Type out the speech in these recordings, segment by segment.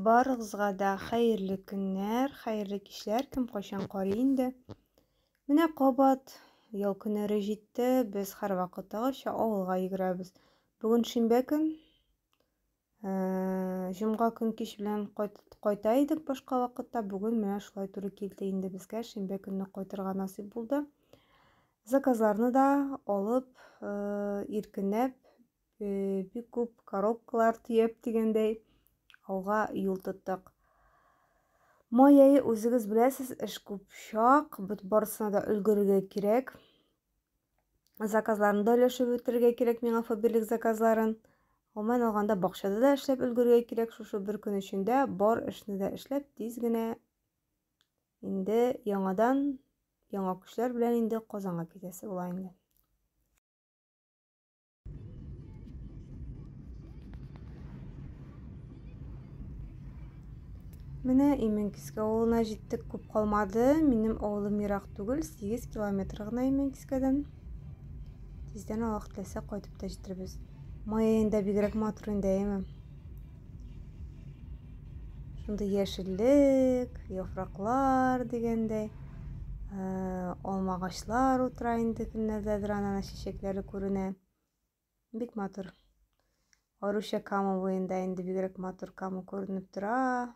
Барыгызга да хәерле көннәр, хәерле кичләр, кем кайчан карый инде. Менә кабат ял көннәре җитте, без һәрвакыттагыча авылга йөгерәбез. Бүген шимбә көн. Э, Җомга көн кич белән кайта идек башка вакытта, бүген менә шулай туры килде инде безгә, шимбә көнне кайтырга насыйп булды. Заказларны да алып, э, иркенләп бик күп коробкалар төяп дигәндәй алга юл тоттык. Май ае үзегез беләсез, эш күп чак, барысына да өлгерергә кирәк. Заказларны да өләшеп үтерергә кирәк миңа фаберлик заказларын. Гомумән алганда бакчада да эшләп өлгерергә кирәк шушы бер көн эчендә бар эшне дә эшләп тиз генә инде яңадан яңа көчләр белән инде Казанга китәсе була инде. Менә Имәнкиске авылына җиттек, күп калмады. Минем авылым ерак түгел, 8 километр гына Имәнкискәдән. Тиздән Аллаһ теләсә кайтып та җитербез. Май аенда бигрәк матур инде, әйеме? Шундый яшеллек, яфраклар дигәндәй, э, алма агачлар утыра инде көннәрдәдер анана чәчәкләре күренә. Бик матур. Аруча камы буенда инде бигрәк матур камы күренеп тора.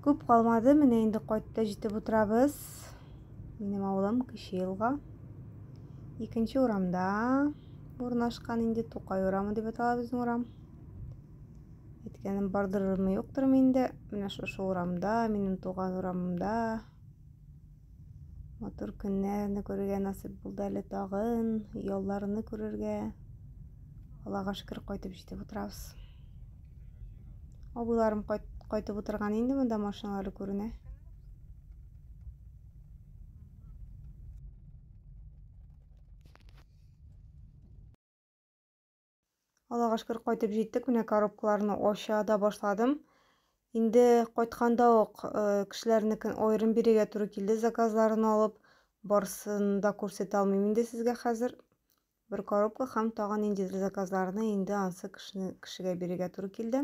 Күп калмады, менә инде кайтта җитеп утырабыз. Минем авылым Кече елга. Икенче урамда урнашкан инде Тукай урамы дип атала безнең урам. Әйткәнем бардырмы юктырмы инде, менә шушы урамда, минем туган урамымда Матур көннәрне күрергә насыйп булды әле тагын, ялларны күрергә. Аллага шөкер, кайтып җитеп утырабыз. Абыйларым кайт, кайтып утырган инде монда машиналары күренә. Аллага шөкер кайтып җиттек. Менә коробкаларны ача да башладым. Инде кайтканда ук э, кешеләрнекен аерым бирергә туры килде заказларын алып. Барсын да күрсәтә алмыйм инде сезгә хәзер. Бер коробка һәм тагын ниндидер заказларны инде ансы кешене, кешегә бирергә туры килде.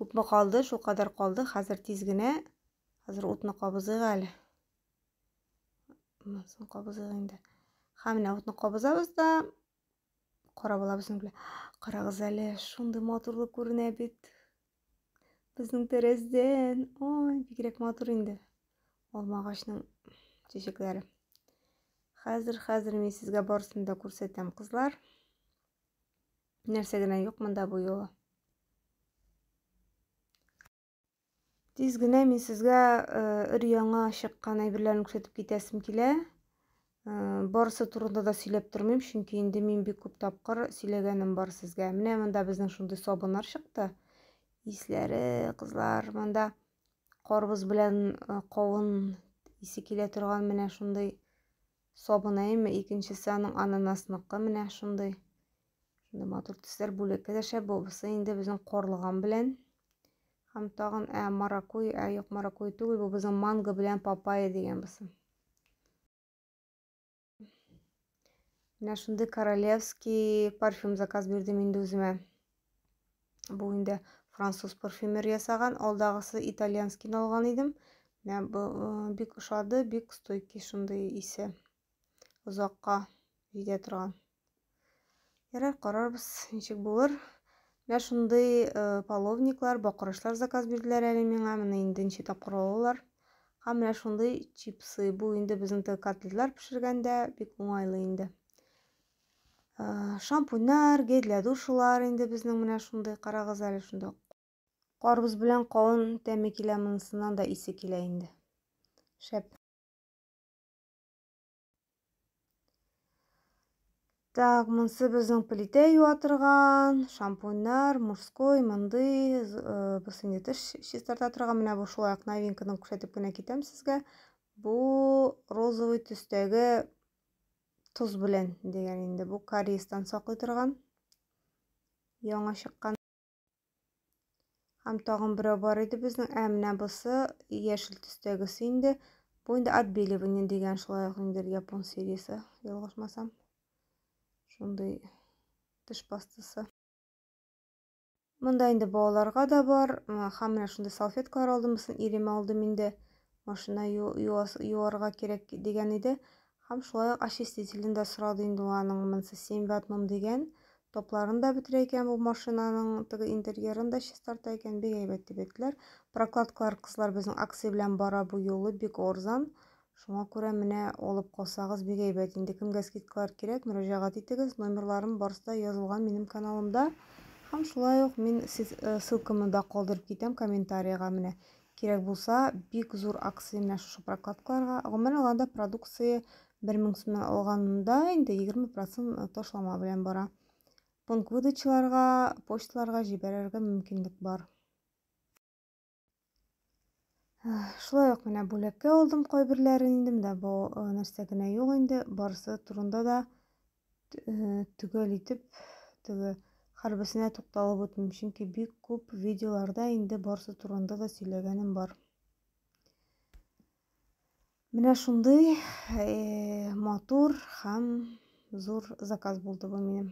Күпме калды, шул кадәр калды. Хәзер тиз генә. Хәзер утны кабызыйк әле. Монсын кабызыйк инде. Һәм менә утны кабызабыз да кара була безнең белән. Карагыз әле, шундый матурлы күренә бит. Безнең тәрәздән. Ой, бигрәк матур инде. Алма агачның чәчәкләре. Хәзер, хәзер мин сезгә барысын да күрсәтәм, кызлар. Нәрсә генә юк монда бу юлы. Тиз генә мин сезгә э, өр-яңа чыккан әйберләрне күрсәтеп китәсем килә. Э, барысы турында да сөйләп тормыйм, чөнки инде мин бик күп тапкыр сөйләгәнем бар сезгә. Менә монда безнең шундый сабыннар чыкты. Исләре, кызлар, монда карбыз белән э, кавын исе килә торган менә шундый сабынайымы. Икенчесе аның ананасыныкы менә шундый. Шунда матур төсләр бүлеккә дә шәп булса инде безнең корлыган белән. Һәм тагын ә маракуй, ә юк маракуй түгел, бу безнең манго белән папайя дигән булсын. Менә шундый королевский парфюм заказ бирдем инде үземә. Бу инде француз парфюмер ясаган, алдагысы итальянскийны алган идем. Менә бу э, бик ошады, бик стойкий шундый исе. озакка җитә торган. Ярар, карарбыз, ничек булыр. Менә шундый э, половниклар, бакырышлар заказ бирделәр әле миңа. Менә инде ничә тапкыр алалар. Һәм менә шундый чипсы. Бу инде безнең котлетлар пешергәндә бик уңайлы инде. Э, шампуньнар, гель для душылар инде безнең менә шундый. Карагыз әле шунда. Карбыз белән кавын тәме килә монысыннан да исе килә инде. Шәп. Так, монсы безнең плитә юа торган, шампуньнар, мужской, мондый, э, без инде теш чистарта торган, менә бу шулай ук новинкадан күрсәтеп кенә китәм сезгә. Бу розовый төстәге тоз белән дигән инде, бу кариестан саклый торган. Яңа чыккан. Һәм тагын берәү бар иде безнең, ә менә бусы яшел төстәгесе инде. Бу инде отбеливание дигән шулай ук ниндидер япон сериясе, ялгышмасам. Шундый теш пастасы. Монда инде балаларга да бар. Һәм менә шундый салфеткалар алдым, бусын иремә алдым инде. машина юарга кирәк дигән иде һәм шулай ук очистителен дә сорады инде аның монысы семь в одном дигән топларын да бетерә икән бу машинаның теге интерьерын да чистарта икән бик әйбәт дип әйттеләр прокладкалар кызлар безнең акция белән бара бу юлы бик арзан шуңа күрә менә алып калсагыз бик әйбәт инде кемгә скидкалар кирәк мөрәҗәгать итегез номерларым барысы да язылган минем каналымда һәм шулай ук мин э, ссылкамны да калдырып китәм комментарийга менә Кирәк булса, бик зур акция менә шушы прокладкаларга. Гомумән алганда продукция 1000 сумнан алганда инде 20 процент ташлама белән бара. Пункт выдачаларга, почталарга җибәрергә мөмкинлек бар. Шулай ук менә бүләккә алдым кайберләрен инде, менә бу нәрсә генә юк инде, барысы турында да төгәл итеп теге хәрбесенә тукталып үтмим, чөнки бик күп видеоларда инде барсы турында да сөйләгәнем бар. Менә шундый э, матур һәм зур заказ булды бу минем.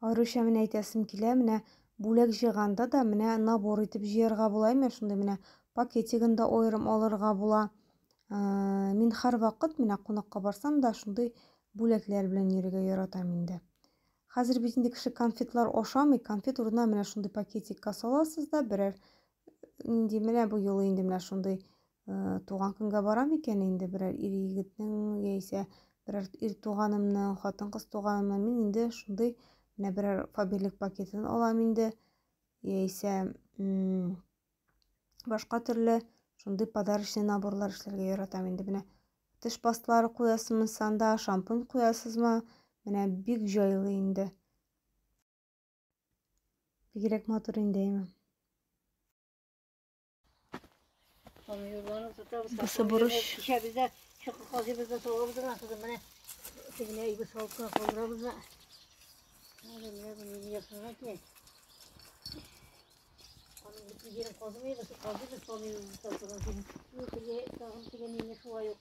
Аеруча менә әйтәсем килә, менә бүләк җыйганда да менә набор итеп җыярга була ме шундый менә пакетигын да аерым алырга була ә, мин һәрвакыт менә кунакка барсам да шундый бүләкләр белән йөрергә яратам инде хәзер бит инде кеше конфетлар ашамый конфет урынына менә шундый пакетикка саласыз да берәр нинди менә бу юлы инде менә шундый э, туган көнгә барам икән инде берәр ир егетнең яисә берәр ир туганымның хатын кыз туганымның мин инде шундый менә берәр фаберлик пакетын алам инде яисә башка төрле шундый подарочный наборлар эшләргә яратам инде менә теш пасталары куясызмы санда шампунь куясызмы менә бик җайлы инде Бигрәк матур инде, әйме. Бусы бурыч. Кичәбездә чокы казыбызда салабыз да кызым менә тегенә иге салып кына калдырабыз да. Менә менә буны ясына ки. Аның бит җирен казымыйбыз, казыбыз салмыйбыз тагын тегене шулай ук.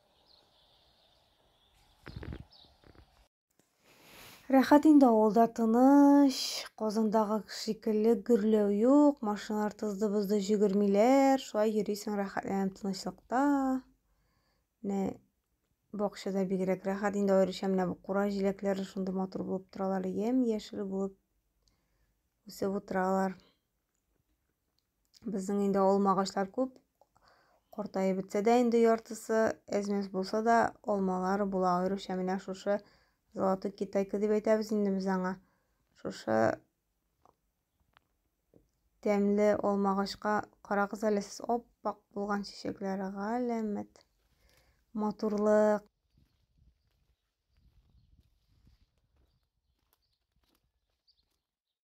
Рәхәт инде авылда тыныч, Казандагы шикелле гөрләү юк, машиналар тызды-бызды җөгермиләр, шулай йөрисең рәхәтләнеп тынычлыкта. Менә бакчада бигрәк рәхәт инде аеруча менә бу кура җиләкләре шундый матур булып торалар, ямь-яшел булып үсеп утыралар. Безнең инде алма агачлар күп. Картаеп бетсә дә инде яртысы, әзмәс булса да алмалар була. Аеруча менә шушы золотой китайка дип әйтәбез инде без аңа. Шушы тәмле алма агачка карагыз әле сез оппак булган чәчәкләре галәмәт. Матурлык.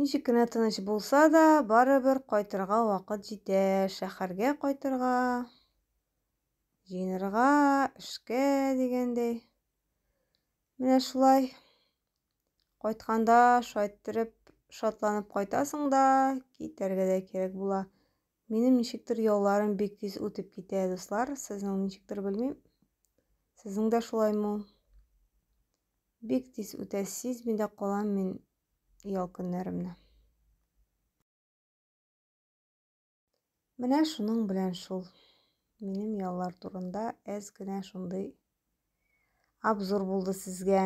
Ничек кенә тыныч булса да, барыбер кайтырга вакыт җитә. Шәһәргә кайтырга, җыенырга, эшкә дигәндәй. Менә шулай. Кайтканда шайттереп шатланып кайтасың да, китәргә дә кирәк була. Минем ничектер ялларым бик тиз үтеп китә, дуслар. Сезнең ничектер белмим. Сезнең дә шулаймы? Бик тиз үтә, сизми дә калам мин ял көннәремне. Менә шуның белән шул. Минем яллар турында әз генә шундый обзор булды сезгә.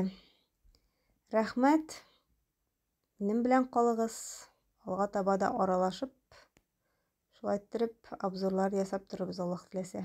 Рәхмәт. Минем белән калыгыз. Алга таба да аралашып, шулай иттереп обзорлар ясап торырбыз Аллаһ теләсә.